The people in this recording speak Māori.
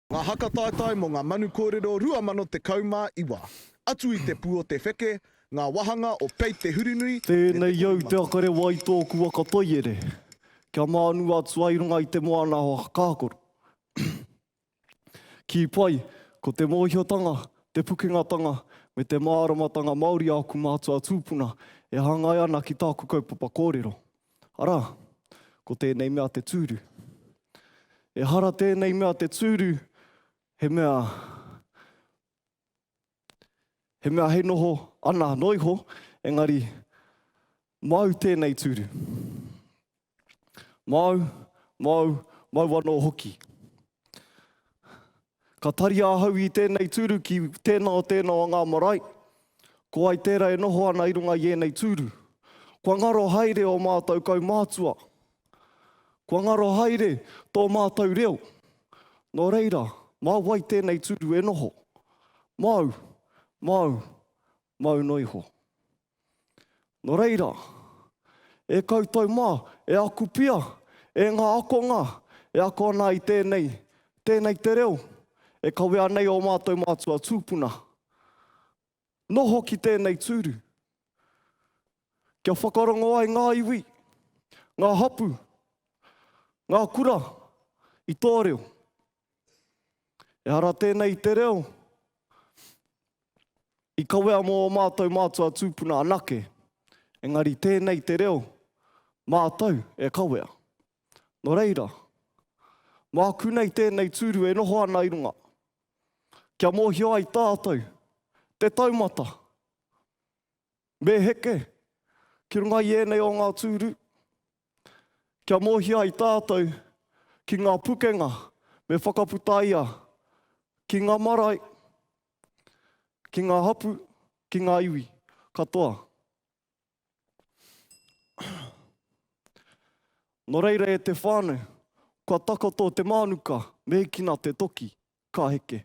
Ngā haka taetae mō ngā manu kōrero 2019, Atu i te Pū o te Wheke, Ngā Wāhanga o Pei Te Hurinui, Tēnei au te akarewa i tōku waka toiere, kia mānu atu ai runga i te moana o Hakakoro. Kī pai, ko te mōhiotanga, te pukengatanga, me te māramatanga Māori āku mātua tūpuna e hāngai ana ki tāku kaupapa kōrero. Arā, ko tēnei mea te tūru. Ehara tēnei mea te tūru, he mea, he mea hei noho ana noa iho, engari māu tēnei tūru. Māu, māu, māu anō hoki. Ka taria ahau i tēnei tūru ki tēnā o tēnā o ngā marae, ko wai tērā e noho ana i runga i ēnei tūru. Kua ngaro haere ō mātou kaumātua. Kua ngaro haere tō mātou reo. Nō reira, mā wai tēnei tūru e noho? Māu, māu, māu noa iho. Nō reira, e koutou mā, e aku pia, e ngā akonga e ako ana i tēnei, tēnei te reo e kawea nei ō mātou mātua tūpuna, noho ki tēnei tūru, kia whakarongo ai ngā iwi, ngā hapū, ngā kura i tō reo. Ehara tēnei i te reo i kawea mō ō mātou mātua tūpuna anake, engari tēnei te reo mātou e kawea. Nō reira, māku nei tēnei tūru e noho ana i runga, kia mōhio ai tātou te taumata Me heke ki runga i ēnei o ngā tūru, kia mōhio ai tātou ki ngā pukenga me whakaputaia ki ngā marae, ki ngā hapū, ki ngā iwi katoa. Nō reira e te whānau, kua takoto te mānuka, me hikina te toki, Ka heke.